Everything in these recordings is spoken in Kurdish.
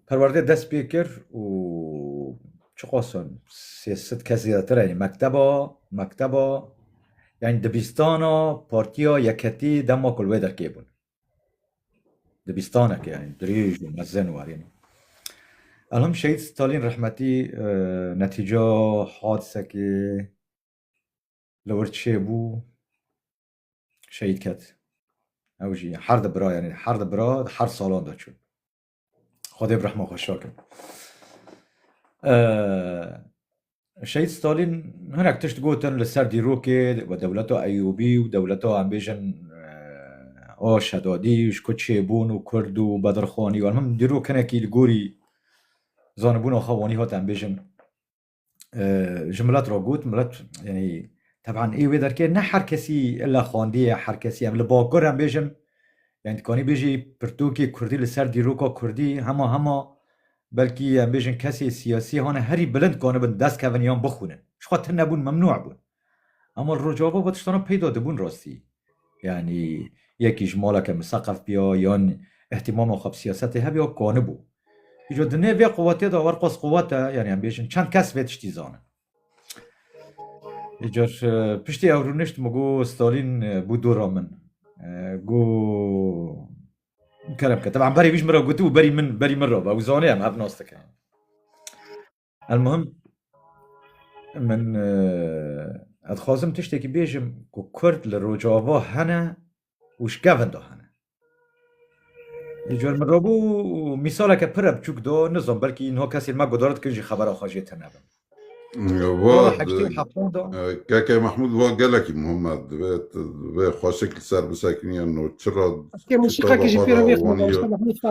Perwerdê dest pê kir û çiqas in sê sed kes zêdetir heye mekteba mekteba yanî dibîstana Partiya Yekhetî dema ku li wê derkê bûn. Dibîstaneke yanî dirêj û mezin warîn. Elham Şehîd Stalîn rehmetî netîca hadisekê li wir çêbû. şehîd ket. Ew jî her di bira yanî her di bira di her salan de çû. Xwedê bi rehma xwe şake. Şehîd Stalîn hinek tişt gotin li ser dîrokê we dewleta Eyûbî û dewleta em bêjin a Şedadî ji ku çêbûn û Kurd û Bedirxanî û em him dîrok hinekî li gorî zanibûna xwe wanî hat em bêjin ji milet re got milet yanî teban ê wê derkê ne her kesî illa xwendiye her kesî em li bakur em bêjin yani dikanî bêjî pirtûkê kurdî li ser dîroka kurdî hema hema belkî em bêjin kesê siyasî hane herî bilind dikanibin dest kevin yan bixwînin jixwe tune bûn memnû bûn Ama Rojava va tiştanan peyda dibûn rastî. Yanî yekî ji maleke miseqef biya yan îhtîmama xwe bi siyasetê hebiya kanibû. Îco di nê vê quwetê de werqas quwet e yanî em bêjin çend kes vê tiştî zanin. Îcar piştî ew rûnişt min got Stalîn bû dora min. Got kerem ke. Teban berî wî ji min re gotibû berî min berî min re be. Ew zanê em hev nas dikin. Elmuhim min ez dixwazim tiştekî bêjim ku Kurd li Rojava hene û ji kevin de hene. Cor min rabû mîsaleke pire biçûk da nizam belkî niha kesên me guhdar dikin jî xebera xwe jê tenebin. KK Mahmud va gelekî muhim e divê divê xweşik li ser bisekiniye no çira. Eske mûsîqekî jî pêro vê xwe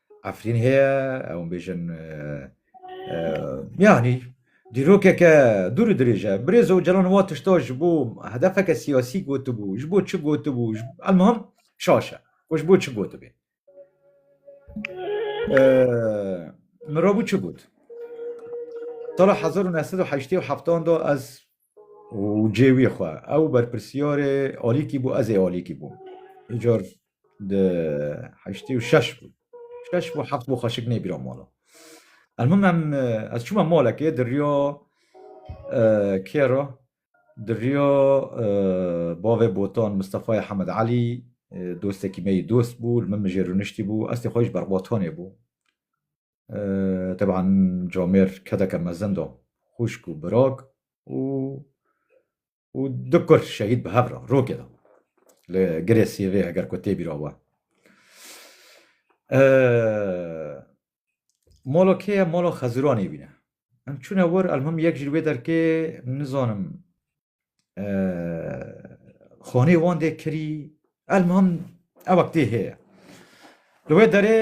Efrîn heye ew bêjin yanî dîrokeke dûr û dirêj e. Birêz Ocalan wa tişta ji bo hedefeke siyasî gotibû, ji bo çi gotibû, elmihim şaş e ku ji bo çi gotibê. Min rabû çi got? Sala hezar û neh sed û heştê û heftan de ez û cê wî xwe. Ew berpirsiyarê alîkî bû, ez ê alîkî bûm. Îcar di heştê û şeş bû. Şeş bû heft bû xweşik nêbîra mala. Elmim em ez çûme malekê di riya kê re di riya bavê Botan Mistefayê Hemed Elî dostekî me yî dost bû li min mijê rûniştî bû. Ez tê xwe yî ji berbatanê bûm. Teban comêr kedeke mezin do xwişk û birok û û du kur şehîd bi hev re rokê de li girê sêvê heger ku tê bîra we. Molo kê ye? Molo Xeziranê bîne. Em çûne wir elmuhim yek ji wê derkê nizanim xanê wan dê kirî elmam ewa tê heye. Li wê derê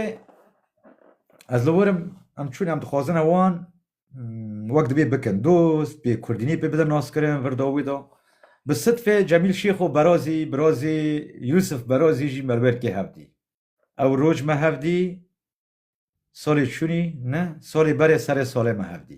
ez li werim em çûn em dixwazine wan wek dibê bikin dost bê kurdînî pê bidin naskirin vir da wî da. Bi sidfê Cemîl Şêxo Berazî birazê Yûsif Berazî jî me li wer kê hevdî. Ew roj me hevdî salê çûnî ne salê berê serê salê me hevdî.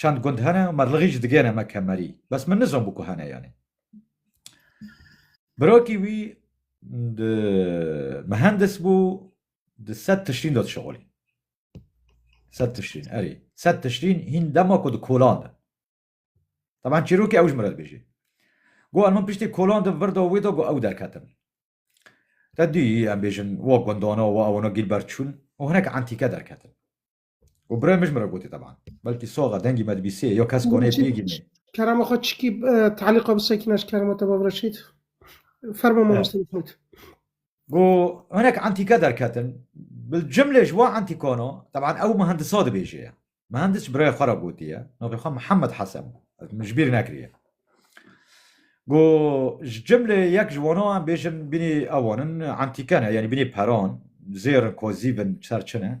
Çend gund hene û merlighî jî digêne me kemerî. Bes min nizan bû ku hene yanî. Birakî wî di mihendis bû di sed tişrîn de dişexolî. Sed tişrîn erê. Sed tişrîn hîn dema ku di kolan de. Taban çîrokê ew ji min re dibêjê. Got min piştî kolan de vir da wê de got ew derketin. Te dî em bêjin wa gundana wa ewana Gîlbert çûn û hinek entîke derketin. û birê min ji min re gotî teban. Belkî soxa dengî me dibîsê yo kes konê pê gînê. Kerema xwe çikî talîqa bi sekîna ji kerema te babira şît. Ferma mamoste Mehmûd. Go hinek entîke derketin bil cimlê ji wa entîkano teban ew mihendisa dibêje ye. Mihendis ji birayê xwe re gotiye navê xwe Mihemed Hesen bû. Ez min ji bîr nekiriye. Go ji cimlê yek ji wana em bêjin bînî ewan in entîke ne yanî bînî peran zêr in kozîb in ser çi ne.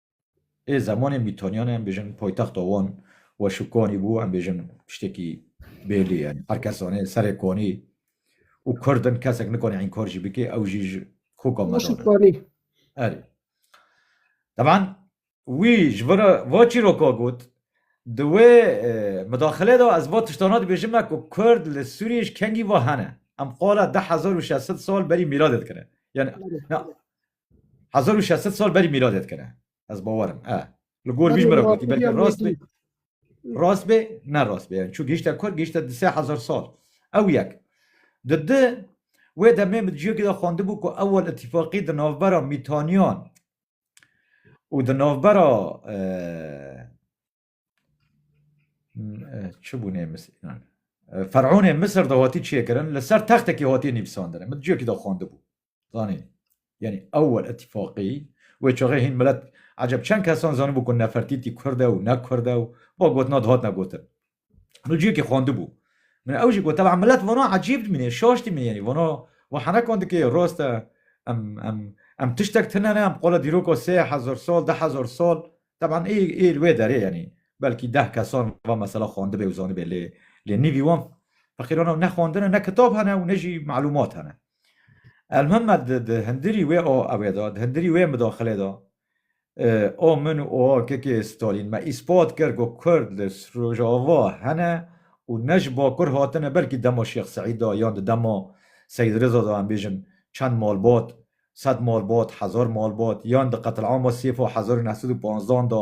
Ê zemanê Mîtonyanê em bêjin poytexta wan Weşikonî bû, em bêjin tiştekî bêlî ye. Her kes zanê serê Konî û Kurd in, kesek nikane înkar jî bike ew jî ji koka me dan e. Erê. Teban wî ji vir e va çîroka got, di wê midaxilê de ez va tiştana dibêjim me ku Kurd li Sûriyê ji kengî va hene. Em qala deh hezar û şeş sed sal berî mîradê dikine. Yanî Hezar û şesit sal berî mîladê dikine. Ez bawer im. E. Li gor vî ji min re gotî belkî rast bê. Rast bê, ne rast bê. Yani çû gihîşte kur, gihîşte di sê hezar sal. Ew yek. Di di, wê demê min di ciyekê de xwendibû ku ewel îtîfaqî di navbera Mîtaniyan û di navbera Çi bûnê mis inan. Fer'ûnê Misir de hatî çiyê kirin li ser textekî hatî nivîsandin. Min ciyekî de xwendibû. Zanî. Yanî ewwel itîfaqî wê çaxê hîn milet eceb çend kesan zanibû ku Nefertîtî Kurd e û ne Kurd e û ba gotina di hatine gotin. Min ciyekî xwendibû. Min ew jî got teb'an milet vana ecîb dimîne, şaş dimîne yanî vana wi henekan dike yê rast e. Em em em tiştek tune ne em qala dîroka sê hezar sal, du hezar sal Teban ê ê li wê derê yanî belkî deh kesan va mesela xwendibê û zanibê lê lê nîvî wan feqîran e û ne xwendin e ne kitab hene û ne jî malûmat hene. Elmim me di di hindirî wê a ewê de, di hindirî wê midaxilê de a min û a kekê Stalîn me îspat kir ku kurd li Rojava hene û ne ji bakur hatine belkî dema Şêx Seîd de yan di dema Seîd Riza de em bêjin çend malbat Sed malbat, hezar malbat, yan di qetilama sêf a hezar û neh sed û panzdan de,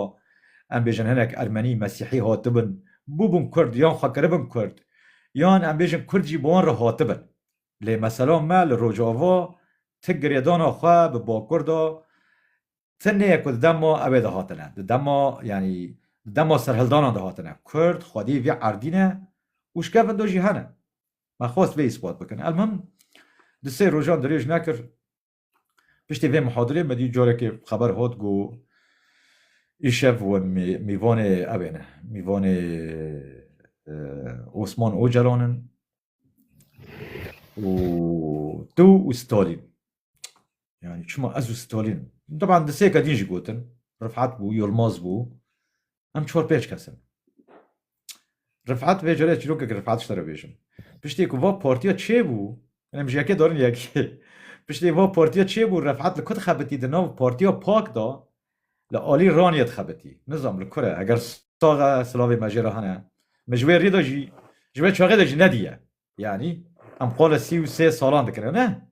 em bêjin hinek Ermenî, Mesîhî hatibin, bûbûn Kurd yan xwe kiribin Kurd, yan em bêjin Kurd jî bi wan re hatibin. Lê mesela me li Rojava ti girêdana xwe bi Bakur de ti neye ku di dema ew ê de hatine, di dema yanî di dema serhildanan de hatine. Kurd xwediyê vê erdî ne û ji kevin do jî hene. Me xwest vê îspat bikin. Elmim di sê rojan dirêj nekir piştî vê mihadirê me dî carekê xeber hat ku îşev we mîvanê ew ê ne, mîvanê Osman Ocalan in û tu û Stalîn. Yani çima ez û Stalin Taban di sêka din jî gotin Rifat bû, Yilmaz bû em çar pênc kes in. Rifat vê cere çîrokek Rifat ji te re bêjim. Piştê ku va partiya çêbû em ji yekê darin yekê. Piştê va partiya çêbû Rifat li ku dixebitî di nav partiya pak da li alî raniyê dixebitî. Nizam li kure eger sax e silavê me jê re hene. Me ji wê rê de jî ji wê çaxê de jî nediye. Yanî em qala sî û sê salan dikin ne?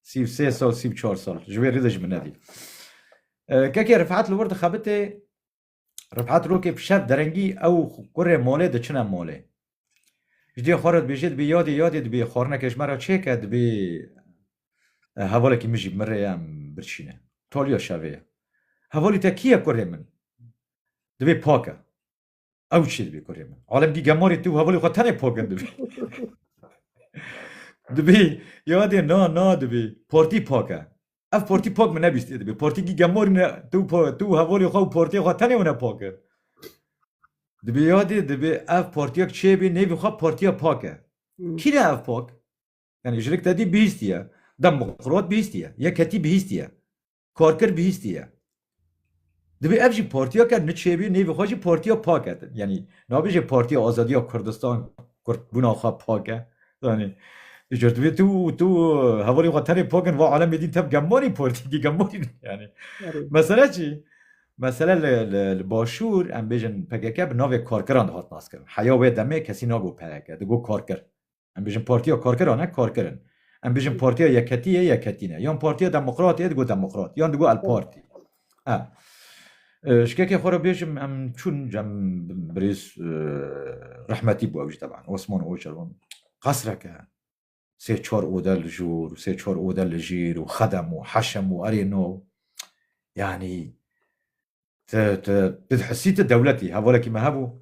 Sî û sê sal, sî û çar sal ji wê rê de ji min nedî. Kekê Rifet li wir dixebitê, Rifet rokê bi şev derengî ew û kurê malê diçine malê. Ji dê xwe re dibêje dibê yadê yadê dibê xwarineke ji me re çêke dibê hevalekî min jî min rê ye em birçîne. Taliya şevê ye. Hevalî te kî ye kurê min? Dibê pake. Ew çi dibî kurê min. Alem dî gemarê tu hevalê xwe tenê pokin dibî. dibî yadê na na dibî portî pake. Ev portî pak min nebîstî dibî. Portî dî gemarî ne tu tu hevalê xwe û portê xwe tenê wine pake. Dibî yadê dibî ev portiyek çêbî nêvî xwe portiya pake. Kî ne ev pak? Yani jilik te dî bihîstiye. Dem xirot bihîstiye. Yek hetî bihîstiye. Karkir bihîstî ye. Divê ev jî partiyeke niçêbî nêvê xwe jî partiya pak e. Yanî nabêje Partiya Azadiya Kurdistan kurdbûna xwe pak e. Zanî Divê tu tu hevalê xwe tenê pak in va alemê dîn tev gemarî partîkî gemarî yanî mesele çi? Mesele li li başûr em bêjin PKK bi navê karkiran dihat naskirin. Heya wê demê kesî nabû PKK digot karkir. Em bêjin Partiya Karkeran e, Karker in. Em bêjin Partiya Yekhetî yê, Yekhetî ne. Yan Partiya Demokratê yê, digo Demokrat. Yan digo El-Partî. E, ji kekê xwe re bêjim em çûn cem birêz rehmetî bû ew jî teban Osman Ocalan qesreke sê çar ode li jûr û sê çar ode li jîr û xedem û heşem û erê no yanî Ti ti tu dihisî tu dewlet î. Hevalekî me hebû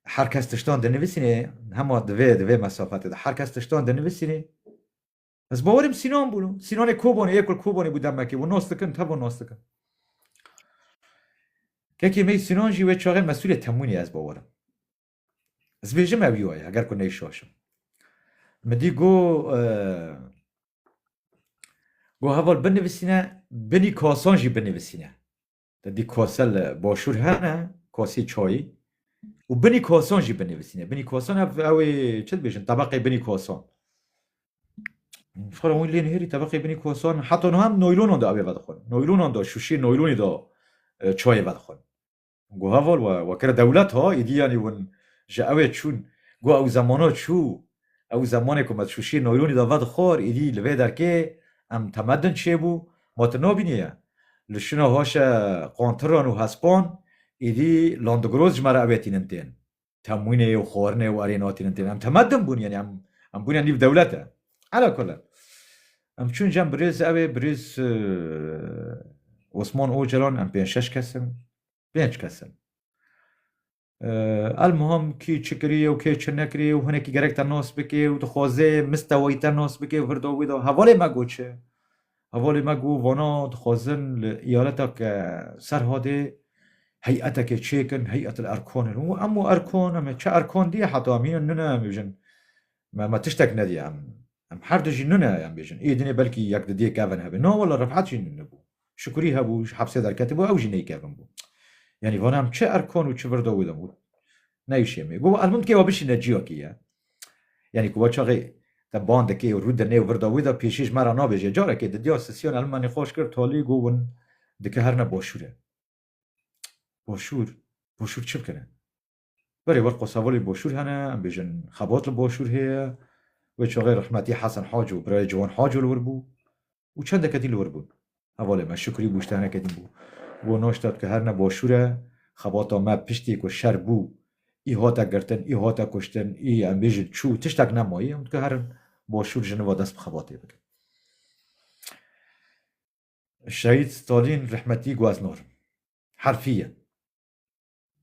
her kes tiştan dinivîsînê hema di vê di vê mesafetê de her kes tiştan dinivîsînê. Ez bawerîm Sînan bûn û Sînanê Kobanê yê ku Kobanê bû demekê û nas dikin tevon nas dikin. Kekê me yê Sînan jî wê çaxê mesûlê temwînê ez bawerim. Ez bêjim ew yo ye eger ku neyşaşim. Min dî go go heval binivîsîne binî kasan jî binivîsîne. Te dî kase li başûr hene kasê çayî û binî kasan jî binivîsîne. Binî kasan ev ew ê çi dibêjin tebeqê binî kasan. Xwara wî lê nihêrî tebeqê binî kasan heta niha em noylonan da ew ê vedixwin. Noylonan da şûşê noylonê da çayê vedixwin. Go heval we wekira dewlet ha êdî yanî win ji ewê çûn. Go ew zemana çû. Ew zemanê ku me di şûşiyê naylonî de vedixwar êdî li vê derkê em temedin çêbû ma tu nabîniye. Li şûna haşe qantiran û hespan êdî landigroz ji me re ewê tînin tên. temwînê û xwarinê û erê notî nin tê em teme din bûn yenî em em bûne nîv dewlet e. Ala kule em çûn cem birêz ew ê birêz Osman Ocalan em pênc şeş kes in pênc kes in El muhim kî çi kiriye û kê çi nekiriye û hinekî gerek te nas bike û dixwaze mistewayî te nas bike û hir da wê da hevalê me got çi Hevalê me got vana dixwazin li eyaleta ke Serhadê heyeteke çêkin Heyetel Erkanê. Û em û Erkan em ê çi Erkan diye heta em hîn nune em bêjin me me tiştek nediye em em her du jî nune em bêjin êdinê belkî yek di dê kevin hebê. Na wele Refet jî nune bû. Şikurî hebû ji hepsê derketibû ew jî neykevin bû. Yanî vana em çi Erkan û çi virda wê de got neyşê me. Got elmim dikê we bişîne ciyakê ye. Yanî ku waçaxê te ban dikê û rû di nêw vir da wî de pêşî ji me re nabêje. Carekê di diyar sisiyan elmanî xweş kir talî got win dike her ne başûr e. Başûr? Başûr çi bikin e? Berê wir qosevo li başûr hene, em bêjin xebat li başûr heye. Wê çaxê rehmetî Hesen Haco birayê Ciwan Haco li wir bû. û çendeke dî li wir bûn. Hevalê me Şukrî Bûştenekê din bû. Bo Noştad ku her ne boşûr e, xebata me piştî ku şer bû, î hate girtin, î hate kuştin, î em bêjin çû, tiştek nemayî, em dikar in boşûr ji nûva dest bi xebatê bikin. Şehîd Stalîn rehmetî got ez narim. Herfî ye.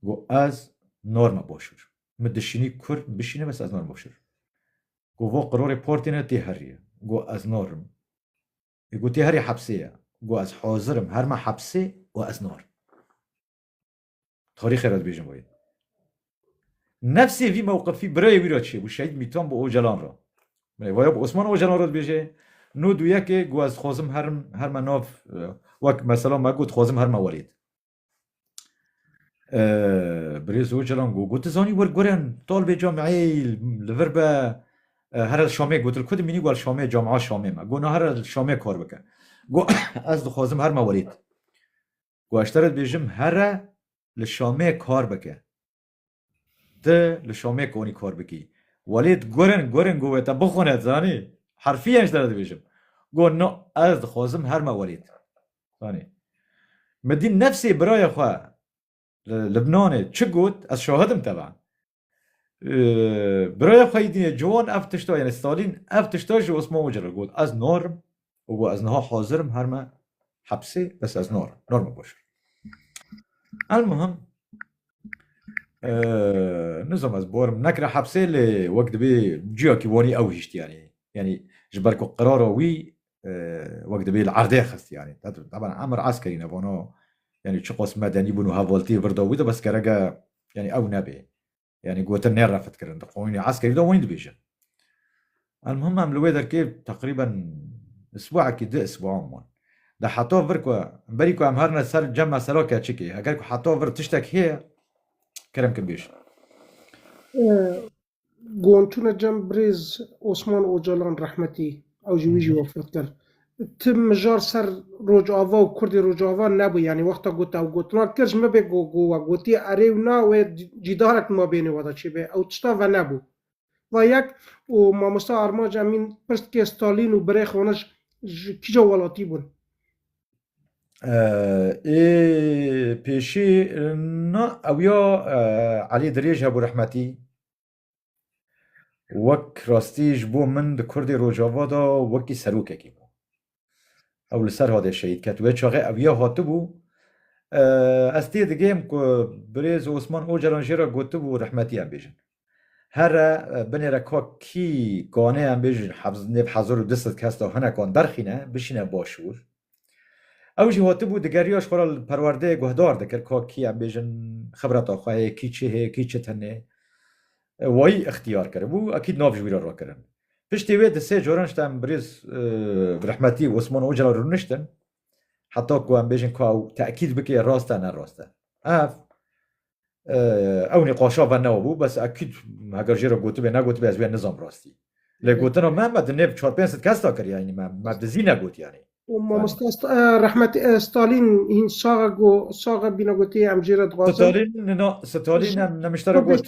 Got ez norma boşûr. Min dişînî kur bişîne bes ez norma boşûr. Got vo qirorê portê ne tê herî ye. Got ez nor im. Ê got tê herî hepsê ye. Got ez hozir im herme hepsê û ez nor. Tarîxê re dibêjin wayî. Nefsê vî mewqifî birayê wî re çi bû Şehîd Mîtan bi Ocalan re. Belê vaya bi Osman Ocalan re dibêje no duyekê got ez dixwazim herim herme nav wek mesela me got dixwazim herme welêt. Birêz Ocalan got, got zanî wir gurin, tal vê cam eyl li vir be here li Şamê gotil ku dimînî got Şamê cama Şamê me. Got na here li Şamê kar bike. Got ez dixwazim her me werêt. Got ez te re dibêjim here li Şamê kar bike. Ti li Şamê konî kar bikî. Welê di gurin gurin got wê te bixwine zanî. Herfiyen ji te re dibêjim. Got no ez dixwazim her me welêt. Zanî. Min dît nefsê birayê xwe li Libnanê çi got ez şahid im teva. Birayê xwe yê dînê ciwan ev tişta yanî Stalîn ev tişta ji Osman Ucir re got ez narim û got ez niha hazir im her me hepsê bes ez narim nar me baş elmuhim nizam ez barim nekira hepsê lê wek dibê ciyakî wanî ew hişt yanî yanî ji ber ku qirara wî wek dibê li erdê xist yanî teban emir ez kerî nevano yanî çiqas medenî bûn û hevaltiyê vir da wî de bes gereke yanî ew nebê Yanî gotin nê refitkirin di qoyûnê eskerî de wayîn dibêjin. Elmuhim em li wê derkê teqrîben isbuekî du isbuan bûn. Di heta vir ku berî ku em herine ser cema sera keçikê heger ku heta vir tiştek heye kerem kin bêjin. Goncûna cem birêz Osman Ocalan rehmetî. Ew jî wî jî wefat kir. Ti mijar ser Rojava û Kurdê Rojava nebû yanî wexta ku te ew gotinan kir ji min bê ku ku we gotiye erê û na wê cîdarek di mabênê we de çêbe ew tişta venebû. Va yek û mamosta Armanc Emîn pirs dike Stalîn û birê Xaniş ji kîja welatî bûn? Ê pêşî na ew ya Elî Dirêj hebû rehmetî. Wek rastî ji bo min di Kurdê Rojava de wekî serokekî bû. Ew li Serhadê şehîd ket. Wê çaxê ev ya hatibû. Ez tê digihim ku birêz Osman Ocalan jê re gotibû rehmetî em bêjin. Here binê re ka kî kanê em bêjin nêv hezar û du sed kes de hinekan derxîne bişîne başûr. Ew jî hatibû digeriya ji xwe re li perwerdeyê guhdar dikir ka kî em bêjin xibreta xwe heye, kî çi heye, kî çi tenê. Wayî îxtiyar kiribû, ekîd nav ji wî re rakirin. Piştî wê di sê caran ji dem birêz bi rehmetî Osman Ocalan rûniştin heta ku em bêjin ka ew tekîd bike rast e ne rast e. Ev Ew nîqaşa ve newe bû bes ekîd heger jê re gotibê negotibê ez wê nizam rastî. Lê gotina me me di nêv çar pênc sed kes da kiriya me me di zî negotiyanê. Mamosta rehmet Stalîn hîn sax e go sax e bîne gotiye em jê re dixwazin. Stalîn nina Stalîn em nemiştera got.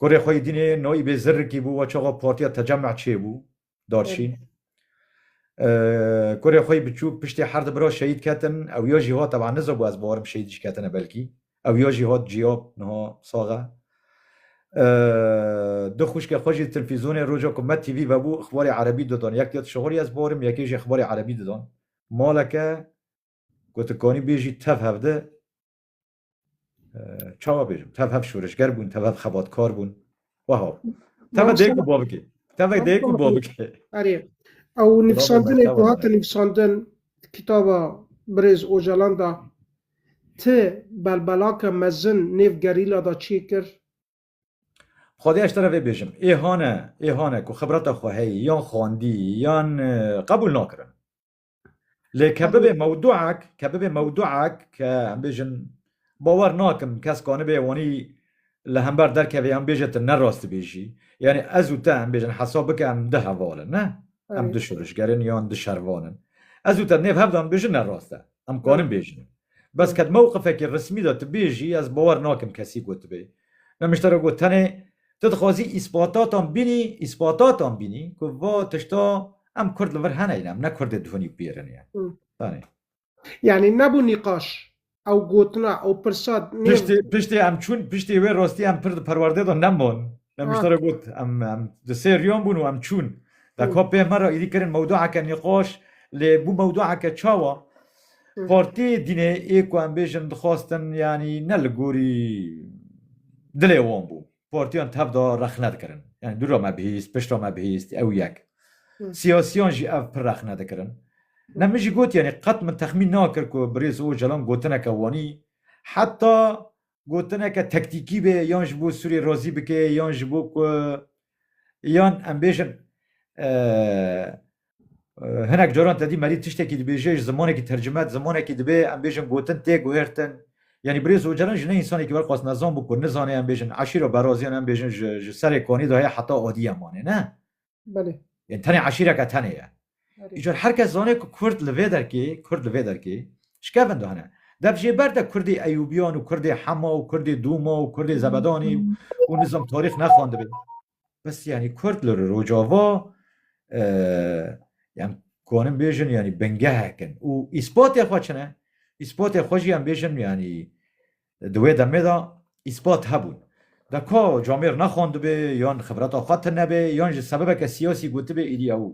Kurê xwe yî dînê noyî bê zirrikî bû we çaxa partiya tecemeh çêbû darçîn. Kurê xwe yî biçûk piştê her di bira şehîd ketin ew ya jî hat teban nizabû ez barim şehîd jî ketine belkî ew ya jî hat ciyab niha sax e. Du xwişkê xwe jî tilfîzonê roja ku me TV vebû ixbarê erebî didan yek ya tişixurî ez barim yekê jî ixbarê erebî didan. Maleke ku tu kanî bêjî tev hevdi. çawa bêjim tev hev şoreşger bûn tev hev xebatkar bûn weha tev dêk û bavkê tev dêk û bavkê erê ew nivîsandinê ku hate nivîsandin kitaba birêz ocalan da ti belbelake mezin nêv gerîla da çê kir Xwedê eştera vê bêjim ê hane ê hane ku xibreta xwe heye yan xwendî yan qebûl nakirin Lê ke bibe mewduek, ke bibe mewduek ke em bêjin bawer nakim kes ki anibê wanî li hember derkevê yan bêje tu ne rastibêjî. Yanî ez û te em bêjin hesab bike em du heval in ne? Em du şoreşger in yan du şervan in. Ez û te nêv hev de em bêjin ne rast e. Em karin bêjin. Bes ke di mewqifekî resmî de tu bêjî ez bawer nakim kesî gotibe. Nemiştera got tenê Tu dixwazî îspatatan bînî, îspatatan bînî ku va tişta em kurd li vir hene yîn, em ne kurdê dihunî û pêrin ye. Danê. Yanî nebû nîqaş, ew gotina, ew pirsa nê. Piştê, piştê em çûn, piştê wê rastî em pir di perwerdê de nemon. Nemîştara got, em em di sê riyan bûn û em çûn. Deka pê me re êdî kirin mewdueke nîqaş, lê bû mewdueke çawa? Partiyê dînê ê ku em bêjin dixwastin yanî ne li gorî dilê wan bû. Partiyan tevda rexne dikirin. Yanî dûra me bihîst, pişta me bihîst ew yek. Siyasiyan jî ev pir rexne dikirin. Ne min jî got yanî qet min texmîn nakir ku birêz Ocalan gotineke wanî heta gotineke tektîkî bê yan ji bo Sûriyê razî bike yan ji bo ku yan em bêjin hinek caran tedî merî tiştekî dibêje ji zimanekî tercime zimanekî dibe em bêjin gotin tê guhertin yanî birêz ocalan ji ne însanekî wer xwest nezan bû ku nizane em bêjin eşîra beraziyan em bêjin ji serê kanî de heye heta adiyê em anê ne Belê. Yên tenê eşîreke tenê ye. Îcar her kes zanê ku Kurd li vê derkê, Kurd li vê derkê ji kevin dane. Dev jê ber de Kurdê Eyûbiyan û Kurdê Hema û Kurdê Dûma û Kurdê Zebedanê û nizam tarîx nexwendibê. Bes yanî Kurd li Rojava yan konin bêjin yanî bingehek in û îspatê xwe çi ne? Îspatê xwe jî em bêjin yanî Di wê demê de îspat hebûn. De ka camêr nexwendibê yan xibreta xwe tinebê yan ji sebebeke siyasî gotibê êdî ew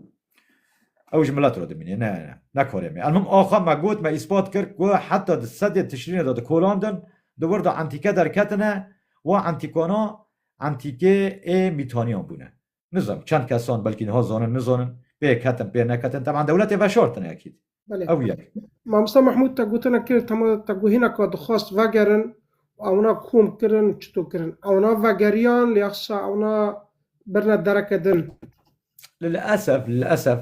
ew ji milet re dimînê. Ne, ne. Ne karê me. Elmim axa me got, me îspat kir ku heta di sedê tişrînê de dikolandin, di wir de entîke derketine, wa entîkana entîkê ê mîtaniyan bûne. Nizanim çend kesan belkî niha zanin nizanin pê ketin pê neketin teman dewletê veşartin ekîd. Belê. Ew yek. Mamosta Mehmûd te gotina kir tema te got hîna ka dixwast vegerin û ewna kom kirin û çito kirin. Ewna vegeriyan lê axsa ewna birine dereke din. Lilesef lilesef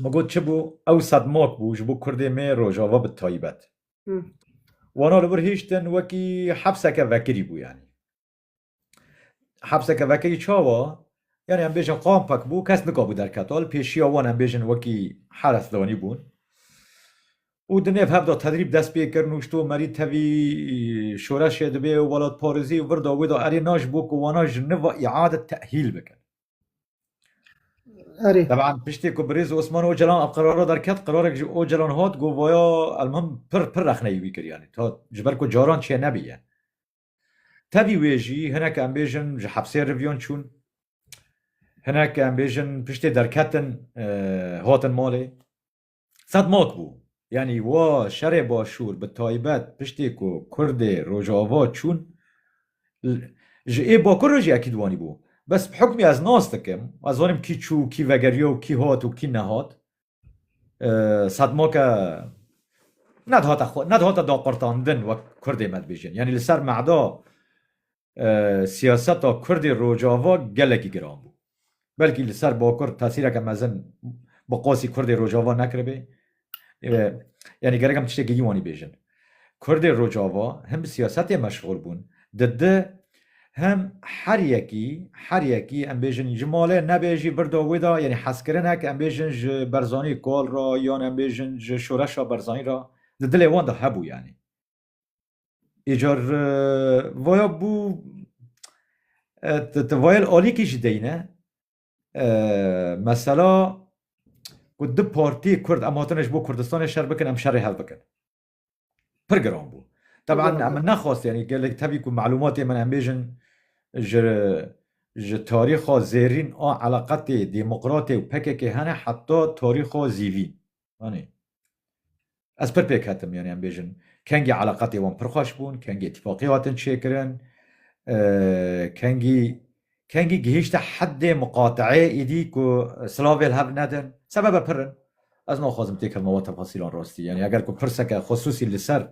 min got çi bû ew sedmak bû ji bo Kurdê me Rojava bi taybet. Wana li vir hiştin wekî hepseke vekirî bû yanî. hepseke vekirî çawa yani em bêjin qampek bû kes nikabû derketal pêşiya wan em bêjin wekî heres danî bûn û di nêv hevda tedrîb dest pê kirin û şto merî tevî şoreşê dibê û welatparêzî vir da wê da erê na ji bo ku wana ji niva îade tehîl bikin Erê. Teban piştê ku birêz Osman Ocalan ev qerara derket qerarek ji Ocalan hat got vaya elmim pir pir rexneyî wî kir yanî ta ji ber ku caran çê nebiye. Tevî wê jî hinek em bêjin ji hepsê rivyon çûn, hinek em bêjin piştê derketin hatin malê. Sedmak bû. Yanî wa şerê başûr bi taybet piştê ku Kurdê Rojava çûn ji ê bakur re jî ekîd wanî bû. Bes bi hukmî ez nas dikim, ez zanim kî çû, kî vegeriya û kî hat û kî nehat. Sedmoke nedihate xwe nedihate daqurtandin wek Kurdê me dibêjin. Yanî li ser mehda siyaseta Kurdê Rojava gelekî giran bû. Belkî li ser Bakur tesîreke mezin bi qasî Kurdê Rojava nekiribê. Yanî gerek em tiştekî dî wanî bêjin. Kurdê Rojava him bi siyasetê meşxûl bûn, di di him her yekî, her yekî em bêjin ji malê nebe jî birda wê de yanî hezkirinek em bêjin ji Berzanî kol re yan em bêjin ji şoreşa Berzanî re di dilê wan de hebû yanî. Îcar vaya bû ti vayel alîkî jî deyne. Mesela ku du partiyê Kurd em hatine ji bo Kurdistanê şer bikin, em şerê hev bikin. Pir giran bû. Teban em nexwest yanî gelek tevî ku malûmatê min em bêjin ji ji tarîxa zêrîn a eleqetê demokratê û pkk hene heta tarîxa zîvîn. Anî. Ez pir pêk hetim yani em bêjin kengî eleqetê wan pir xweş bûn, kengî îtîfaqê hatin çêkirin, kengî kengî gihîşte heddê miqateê îdî ku silavêl hev nedin. Sebebe pir in. Ez naxwazim têkevma we tefasîlan rastî. Yani eger ku pirseke xusûsî li ser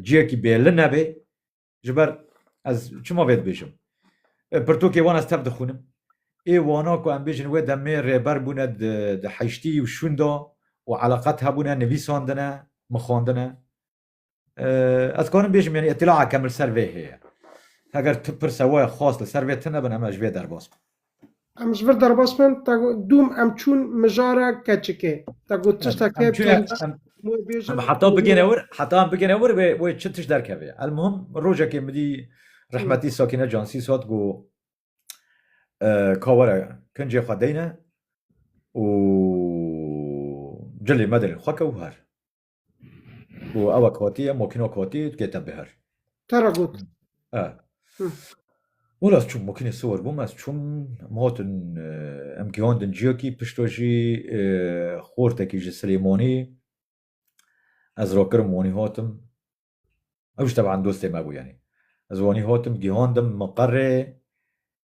ciyekî bêli nebê, ji ber ez çima vê dibêjim pirtokê wan ez tev dixûnim ê wana ku em bêjin wê demê rêber bûne di heştî û şûn de û eleqet hebûne nivîsandine mixwandine ez karim bêjim yanî îtîlaa kemil ser vê heye heger tu pirse we xwast li ser vê tune bin em ez ji vê derbas bim Em ji vir derbas bin, te got dûm em çûn mijara keçikê. Te got tiştekê Em çûne tend em em wê bêjin. em heta bigêne wir heta em bigêne wir wê wê çi tişt derkeve. Elmuhim rojekê min dî rehmetî Sakîne Cansî sot ku eh, ka were kincê xwe deyne û cilê me derê xwe kew her. Û ew e kotî ye, mokîno kotî dikete bihir. Te re got. E. Wela ez çûm mokînê siwir bûm, ez çûm em hatin em gihondin ciyekî pişto jî xortekî ji Silêmanî ez rakirim wanî hatim. Ew jî teban dostê me bû yanî. Ez wanî hatim gihandim miqerê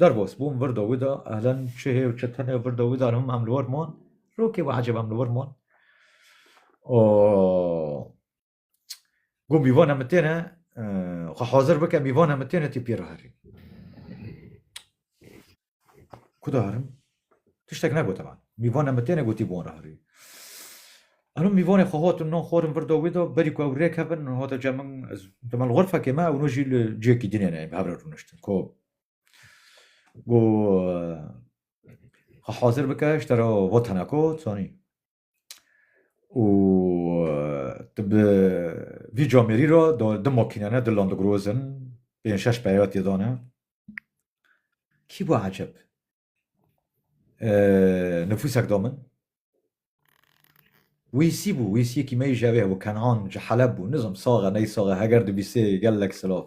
Derbas bûm vir dawî de elen çi hê û çi tune vir dawî de him em li wir man. Rokê we ecêb em li wir man. O Got mîvan em têne xwe hazir bike mîvan em têne tê pê re herî. Ku de herim? Tiştek negote man. Mîvan em bi têne gotî bi wan re herî. Eno mîvanê xwe hat û nan xwarin vir da wê de, berî ku ew rê kevin û hate cem min ez di mal xurfekê me ew no jî li ciyekî dinê ne yên bi hev re rûniştin ku got xwe hazir bike ji te re vat hene ku tu zanî û tu bi vî camêrî re di di makîne ne di landigroz in pênc şeş peyaya tê de ne. Kî bû eceb nifûsek da min. Wîsî bû, wîsîyekî me yî ji hevê hebû, Kenan ji Heleb bû, nizim sax e ney sax e, heger dibîsê gelek silav.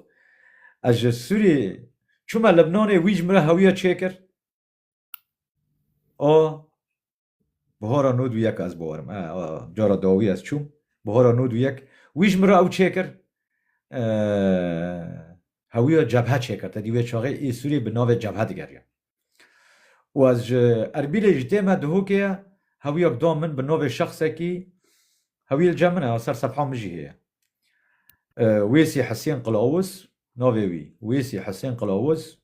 Ez ji Sûriyê çûme Libnanê, wî ji min re hewiya çêkir a Bihara nod û yek ez biwarim. E, a, cara dawî ez çûm. Bihara nod û yek. Wî ji min re ew çêkir. E, hewîya cebhe çêkir. Te dî wê çaxê ê Sûriyê bi navê cebhe digeriya. Û ez ji Erbîlê ji dê me Dihokê ye, hewîya bi da min bi navê şexsekî, hewîyê li cem min e, a ser sefha min jî heye. E, Wêsî Hesên Qilawuz navê wî. Wêsî Hesên Qilawuz.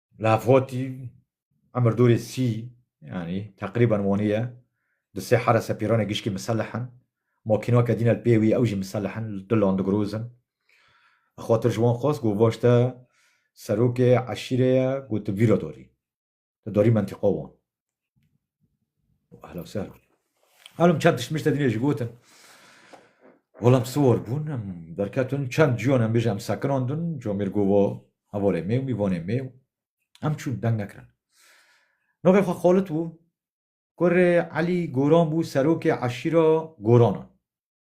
Lafotî, Emir Dûrê Sî, yanî teqrîben wanî ye, di sê here sepîranê gişkî miselih in. Makîna ke dîne li pê wî ew jî miselih in, li tu landigroz in. Li xatir ji wan xwest got vaş te serokê eşîrê ye, got tu vî re darî. Tu darî mentîqa wan. Ahla ser. Halim çend tişt mişte dinê ji gotin. Olam sor bûn em derketin çend ciyon em bêje em sekinandin comêr gova hevalê mêw mîvanê mêw em çûn deng nekirin. Navê xwe Xalit bû kurê Elî Goran bû serokê eşîra Goranan.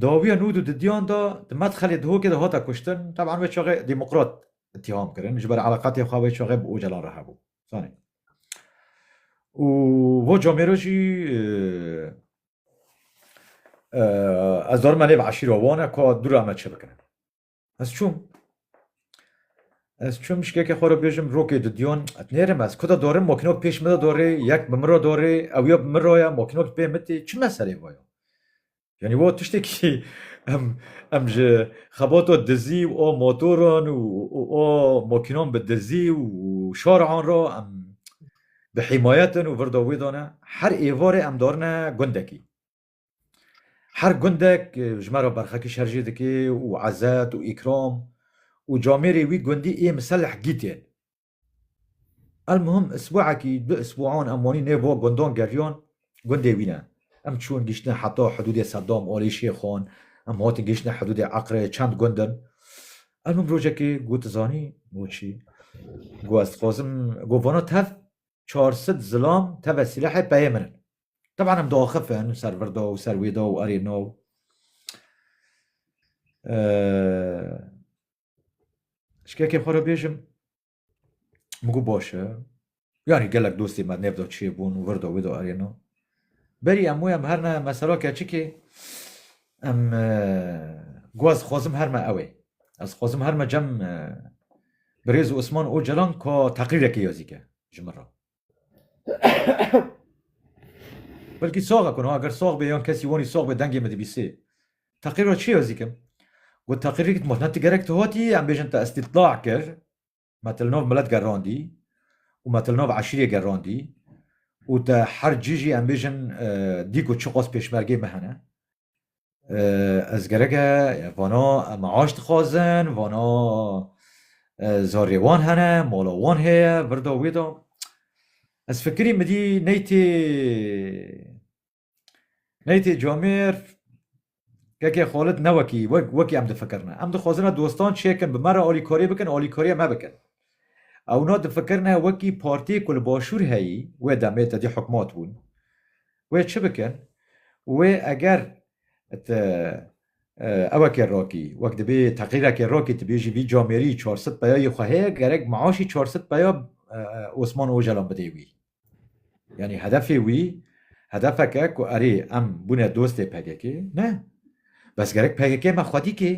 Dawiya nû du didiyan da di medxelê Dihokê de hate kuştin. Teban wê çaxê demokrat îttiham kirin ji ber eleqatê xwe wê çaxê bi Ocalan re hebû. Zanî. Û bo camêro jî ez darim me lê bi eşîra wan e ka dû re em çi bikin. Ez çûm. Ez çûm şikeke xwe re bêjim rokê didiyon et nêrim ez ku de dorim mokînok pêş min de dorê yek bi min re dorê ew ya bi min re ya mokînok pê min tê çi meselê bo ya. Yanî wo tiştekî em em ji xebata dizî û o motoran û o mokînan bi dizî û şaran re em bi hîmayetin û vir de wê de ne her êvarê em darine gundekî. Her gundek ji me re berxekî şer jê dike û ezet û îkram û camêrê wî gundî ê miseleh gîtên. Elmuhim isbuekî du isbuan em wanî nêva gundan geriyan gundê wî ne. Em çûn gihiştine heta hidûdê Sedam, Alê Şêxan, em hatin gihiştine hidûdê Eqrê, çend gund in. Elmuhim rojekê got tu zanî goçî got ez dixwazim got vana tev çar sid zilam teve sîlehê peyê min in. Teban em diaxifin ser vir de û ser wê de û erê no şikekê xwe re bêjim min got baş e yanî gelek dostê me nêv de çêbûn û vir de wê de erê no berî em wê em her ne me sera keçikê em got ez xwazim her me ew ê ez xwazim her me cem birêz û Osman Ocalan ka teqrîrekê ya zîke ji min re Belkî soxe ku niha ger sox bê yan kesî wanî sox bê dengê min dibîsê. Teqîr ra çi yazî kim? Got teqîrê ki me ti gerek ti hatî em bêjin te îstîtla kir, me te li nav milet gerandî û me te li nav eşîrê gerandî û te her cî jî em bêjin dîko çiqas pêşmergê me hene. Ez gereke vana maaş dixwazin, vana zarê wan hene, mala wan heye, virda wê de. Ez fikirî min dî ney tê ney tê camêr keke xalit ne wekî wekî em difikirine. Em dixwazine dostan çêkin bi me re alîkarî bikin, alîkariya me bikin. Ew no difikirine wekî partiyê ku li başûr heyî, wê demê tedî hikmat bûn, wê çi bikin û wê eger ti ewekê rakî wek dibê teqrîrekê rakî tu bêjî vî camêrî çar sed peya yê xwe heye gerek meaşî çar sed peya Osman Ocalan bidê wî. Yanî hedefê wî hedefeke ku erê em bûne dostê PKK'ê ne. Bes gerek PKK'ê me xwedî kê,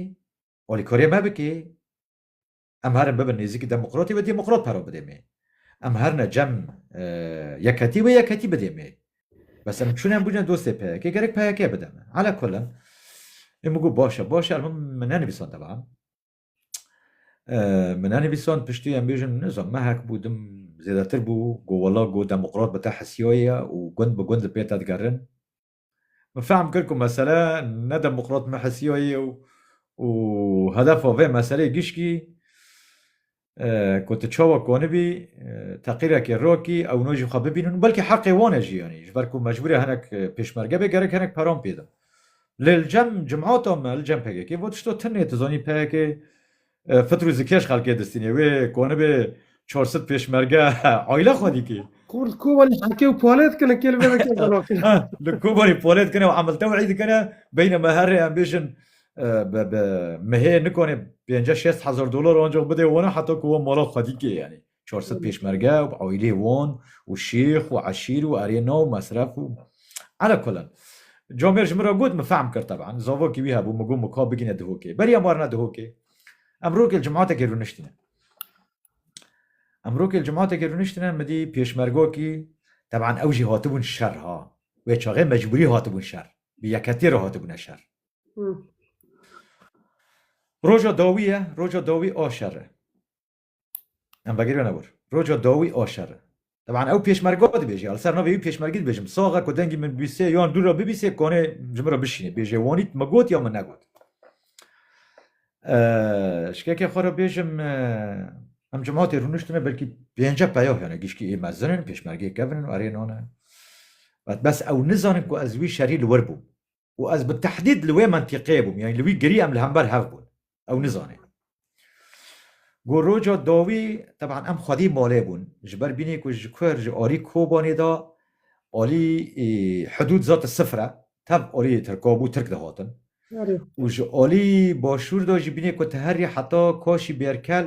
alîkariyê me bikê. Em herin bibin nêzîkî demokratî ve demokrat pera bidê mê. Em herine cem yekhetî ve yekhetî bidê mê. Bes em çûne em bûne dostê PYK gerek PYK bide me. Ala kullin em got baş e baş e elbim min nenivîsan devam. Min nenivîsan piştî em bêjin nizam me hek bû dim zêdetir bû got wela got demokrat bi te hesiyayê ye û gund bi gund li pê te digerin. Min fehm kir ku mesele ne demokrat Mehesiya ye û hedefa vê meseleyê gişkî ku tu çawa konibî teqîrekê rakî ewna jî xwe bibînin û belkî heqê wan e jî yanî ji ber ku mecbûr e hinek pêşmerge bê gerek hinek peran pê da. Lê li cem cimata me li cem pkk va tişta tune tu zanî pkk Fitrû zikêş xelkê distînê. Wê konibê çor sid pêşmerge aile xwe dîtî. Xûr li Kobanî heke û polê dikine kê li vê vekê zanafî. Li Kobanî polê dikine û emil tewî dikine. Beyne me herrê em bêjin bi bi mehê nikonê pênce şêst hezar dolar ancaq bidê wana heta ku wan mala xwe dîkê yanî. çar sed pêşmerge û aîleyê wan û şêx û eşîr û erê nav mesref û Ala kullin. Camêr ji min re got, min fehm kir teban, zavokî wî hebû, min got min ka bigîne Dihokê. Berî em warine Dihokê. Em rokê li cematekê rûniştîne. Em rokê li cematekê rûniştîne, min dî pêşmergakî, teban ew jî hatibûn şer ha. Wê çaxê mecbûrî hatibûn şer. Bi yekhetiyê re hatibûne şer. Roja dawî ye, roja dawî a şer e. Em vegirî wene wir. Roca dawî a şer e. Teban ew pêşmerga dibêje. Li ser navê wî pêşmergî dibêjim. Saxe ku dengî min bîsê yan dû re bibîsê kanê ji min re bişînê. Bêje wanît min got ya min negot. Şikekê xwe re bêjim em cemaatê rûniştine belkî pênce peyah hene gişkî ê mezin in pêşmergê kevin in û erê nan e. Bes ew nizanin ku ez wî şerî li wir bûm. û ez bi tehdîd li wê mentîqeyê bûm, yanî li wî girî em li hember hev bûn. Ew nizane. Ku roja dawî teban em xwedî malê bûn, ji ber bînî ku ji ku ji alî Kobanê de alî hidûd zat sifir e, tev alî Tirka bû, Tirk dihatin. Û ji alî başûr de jî bînî ku te herî heta Kaşî Bêrkel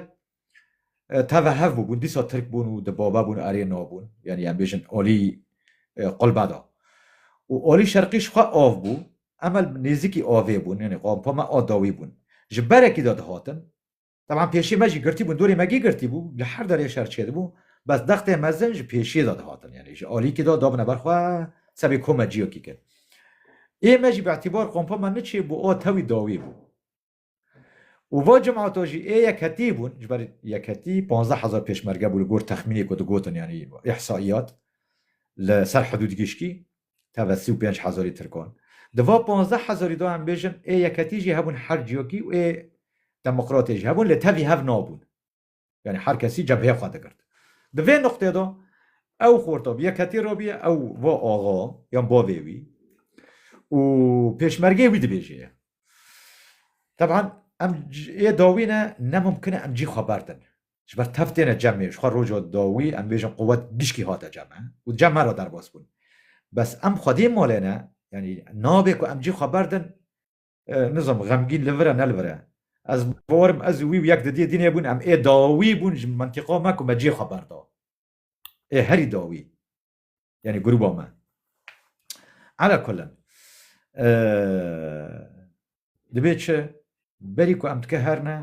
Teve hev bûbûn dîsa Tirk bûn û di bava bûn erê nabûn. Yanî em bêjin alî qulbe da. Û alî şerqî ji xwe av bû. Em li nêzîkî avê bûn. Yanî qampa me a dawî bûn. Ji berekî de dihatin. Teban pêşê me jî girtî bûn. Dorê me gê girtî bû. Li her derê şer çêdibû. Bes dextên mezin ji pêşê de dihatin. Yanî ji alîkî de dabine ber xwe sebê komeciyekî kir. Ê me jî bi îtîbar qampa me niçêbû a tewî dawî bû. û va cemata jî ê yekhetî bûn ji ber yekhetî panzdeh hezar pêşmerge bû li gor texmînê ku digotin yanî îhsaîyat li ser hidûd giştî tevve sî û pênc hezarî tirkan. Di va panzdeh hezarî de em bêjin ê yekhetî jî hebûn her ciyakî û ê demokratê jî hebûn lê tevî hev nabûn. Yanî her kesî cebheyê xwe digirt. Di vê nuqtê de ew xorta bi yekhetî re bûye, ew va axa yan bavê wî û pêşmergeyê wî dibêje ye. Teban em ê dawî ne, ne mimkin e em cî xwe berdin. Ji ber tev têne cemê, ji xwe roja dawî em bêjin quwet gişkî hate ceme û cem me re derbas bûn. Bes em xwedî malê ne, yanî nabê ku em cî xwe berdin. Nizam xemgîn li vir e ne li vir e. Ez bawer im ez û wî yek di diyê dînê bûn em ê dawî bûn ji mentîqa me ku me cihê xwe berda. Ê herî dawî yanî grûba me. Ala kullin dibê çi berî ku em dike her ne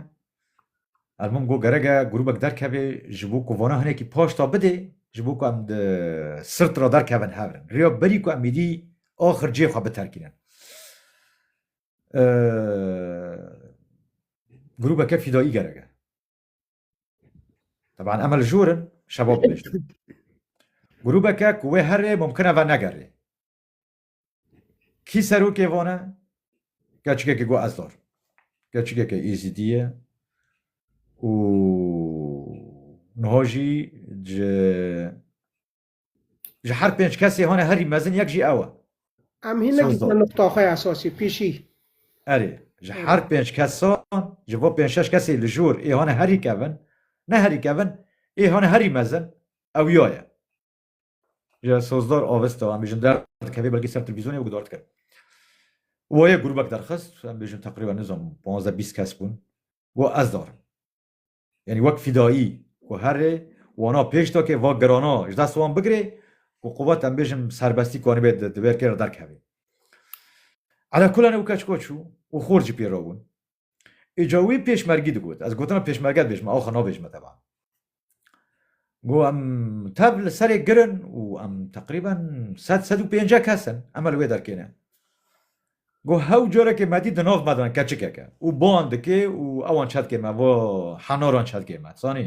Ez min got gerek e grûbek derkevê ji bo ku vana hinekî paşta bidê ji bo ku em di sirt re derkevin hev in. Rêya berî ku em êdî axir cihê xwe biterkînin. Grûbeke fîdayî gerek e. Teban em li jor in şebab bihiştin. Grûbeke ku wê herê mumkin e ve negerê. Kî serokê van e? Keçikekî got ez dar. Keçikeke Êzidî ye û niha jî ji ji her pênc kesê hane herî mezin yek jî ew e. Em hîn nekirine nuqta xwe ya esasî pêşî. Erê ji her pênc kesan ji bo pênc şeş kesê li jor ê hane herî kevin ne herî kevin ê hane herî mezin ew ya ye. Ji Sozdar avist û em bêjin der dikevê belkî ser televîzyonê û guhdar dike. Wayê grûbek derxist, em bêjin teqrîben nizanim panzdeh bîst kes bûn û ez dar im. Yanî wek fîdayî ku herê wana pêş da ke va girana ji dest wan bigirê û quwet em bêjin bi serbestî ku anîbê di wêrkê re derkevê. Elekulane û keç koç û xort jî pê re bûn. Îca wî pêşmergî digot. Ez gotina pêşmerge dibêjim, axa nabêjime teban. Got em tev li serê girin û em teqrîben sed sed û pêncek kes in. Em li wê derkê ne. Got hew carekê me dît di nav me de ne keçikek e û ban dike û ewan çetkê me va henaran çetkê me. Zanî?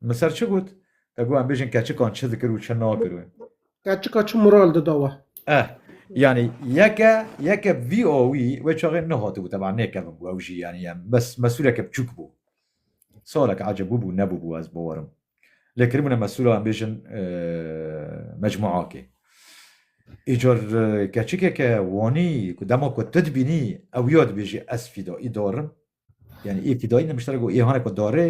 Min ser çi got? Te got em bêjin keçikan çi dikir û çi nakir we. Keçika çi moral dida we? Eh, yani yeke yeke VOV wê çaxê nehatibû teba nêkevin bû ew jî yani em bes mesuleke biçûk bû. Salek acebû bû nebûbû ez bawerim. Lê kiribûne mesula em bêjin mecmuakê. Îcar keçikeke wanî ku dema ku tu dibînî ew ya dibêjî ez fîda îdarim Yani ê fîdayî ne muşterek û êhanê ku darê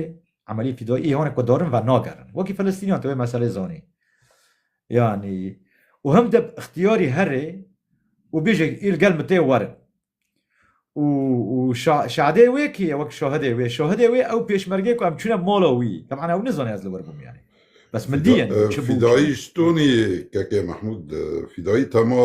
emelî fîdayî êhanê ku darin ve nagerin. Wekî Filistîniyan tu wê meselê zanî. Yani û hem de ixtiyarî herê û bêje îl gel min tê werin. û û şahidê wê kî ye wek şahidê wê şahidê wê ew pêşmergê ku em çûne mala wî teban ew nizane ez li wir bûm yani bes min dîye fîdayî ji Tonî kekê Mehmûd fîdayî tema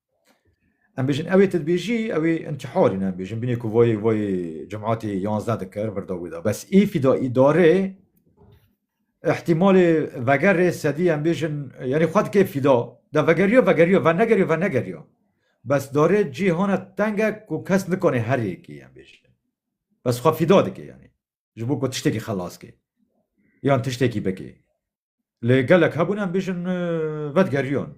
Em bêjin ew ê tedbêjî ew ê intîharî ne em bêjin binê ku vayê vayê cemaatê yanzdeh dikir virda wê da bes ê fîdaî darê ihtimalê vegerê sedî em bêjin yanî xwe dikê fîda de vegeriya vegeriya venegeriya venegeriya bes darê cîhana tenge ku kes nikanê her yekê em bêjin bes xwe fîda dikê yanî ji bo ku tiştekî xelas kê yan tiştekî bikê. Lê gelek hebûn em bêjin vedgeriyon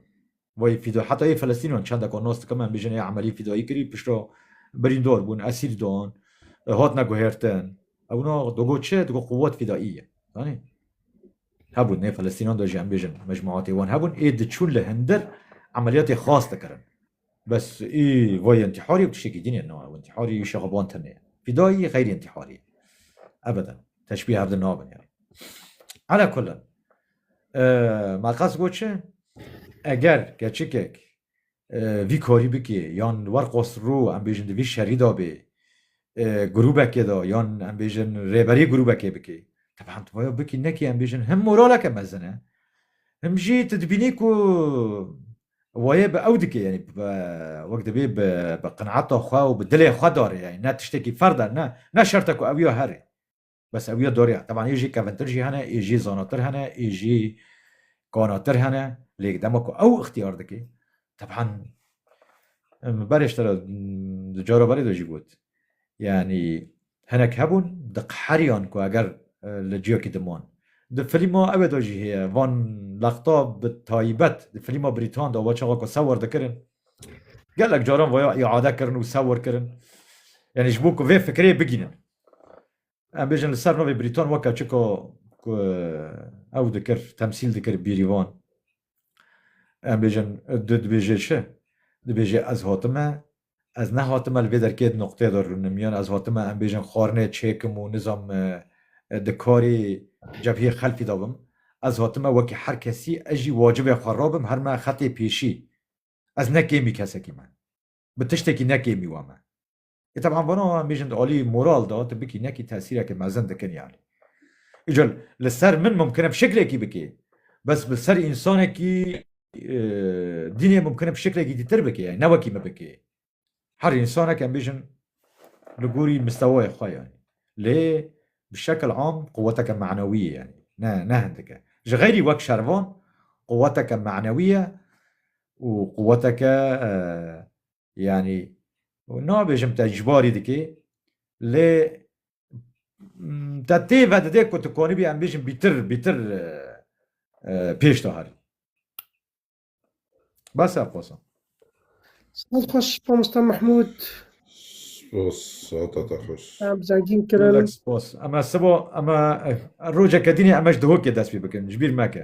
wê fîdo heta yê Filistînan çende ku nas dikim em bêjin ê emelî fîdoyî kirî pişto birîndor bûn esîr dan hatine guhêrtin ewna digo çi digo quwet fîdaî ye zanî hebûn nê Filistînan de jî em bêjin mecmuatê wan hebûn ê diçûn li hindir emeliyatê xas dikirin Bes ê vayê intîharî ew tiştekî din e na ew intîharî ê şexaban tenê ye. Fîdayî xeyrî intîharî ye. Ebeden. Teşbîh hev di nabin yani. Ala kullin. Ma qas got çi? Eger keçikek vî karî bikê yan li wer qasirû em bêjin di vî şerî de bê grûbekê de yan em bêjin rêberî grûbekê bikê. Teban tu baya bikî nekî em bêjin him moraleke mezin e him jî tu dibînî ku Wayê bi ew dike yanî wek dibê bi qinata xwe û bi dilê xwe darê yanî ne tiştekî ferd e ne ne şert e ku ew ya herê. Bes ew ya dariya. Teban ê jî kevintir jî hene, ê jî zanatir hene, ê jî kanatir hene. Lê dema ku ew ixtiyar dike teban min berê ji te re di cara berê de jî got Yanî hinek hebûn diqheriyan ku eger li ciyekî diman. Di filma Ewe de jî heye van lexta bi taybet di filma Brîtan de wa çaxa ku sewir dikirin gelek caran vaya îade kirin û sewir kirin. Yanî ji bo ku vê fikrê bigînin. Em bêjin li ser navê Brîtan weke çika ku ew dikir temsîl dikir bîrîvan. Em bêjin tu dibêjê çi? Dibêjê ez hatime Ez nehatime li vê derkê di noqteyê de rûnimiyan, ez hatime em bêjin xwarinê çêkim û nizam di karê cevhiyê xelfî de bim. Ez hatime wekî her kesî ez jî wacibê xwe rabim her me xetê pêşî. Ez ne kêmî kesekî me. Bi tiştekî ne kêmî we me. Ê teb'an vana em bêjin di alî moral de tu bikî nekî tesîrekê mezin dikin yanî. Îcar li ser min mumkin e bi şeklekî bikê bes li ser însanekî dînê mumkin e bi şeklekî dîtir bike yani ne wekî me bike her insanek em bêjin li gorî mistewayê xwe yani lê bi şekil am quweteke manewî ye yani ne ne hindike ji xeyrî wek şervan quweteke manewî ye û quweteke yanî nabêjim te icbarî dikê lê te tê vedidê ku tu konibî em bêjin bîtir bîtir pêş de herî bes ev qosan Saz xweş Mamosta Mahmûd Spos sata te xweş Zengîn kirin Spos em sibo em rojeke dînê em ji dihokê dest pê bikin ji bîr meke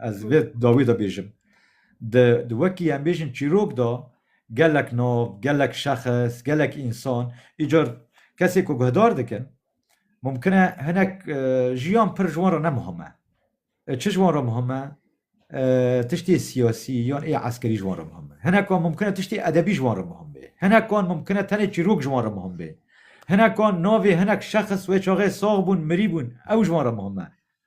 Ez vê dawî de bêjim. Di di wekî em bêjin çîrok de gelek nav, gelek şexs, gelek însan îcar kesê ku guhdar dikin mumkin e hinek jiyan pir ji wan re ne muhim e. Çi ji wan re muhim e? Tiştê siyasî yan ê eskerî ji wan re muhim e. Hinekan mumkin e tiştê edebî ji wan re muhim bê. Hinekan mumkin e tenê çîrok ji wan re muhim bê. Hinekan navê hinek şexs wê çaxê sax bûn, mirî bûn ew ji wan re muhim e.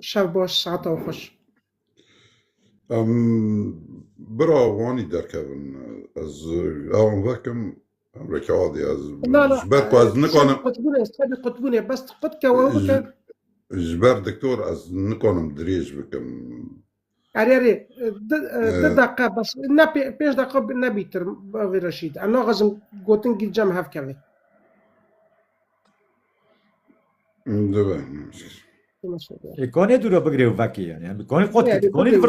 Şev baş, saeta wî xweş. Em bira wanî derkevin ez ewan vekim em reke adê ez ji ber ku ez nikanim qutbûnê sebî qutbûnê bes qut kewe bike ji ber diktor ez nikanim dirêj bikim Erê erê di deqe bes ne pênc deqe nebîtir vê reşîd em naxizim gotin gîl cem hevkevê Dibe. Konê dûra bigirê û vekê yani. Konê qot konê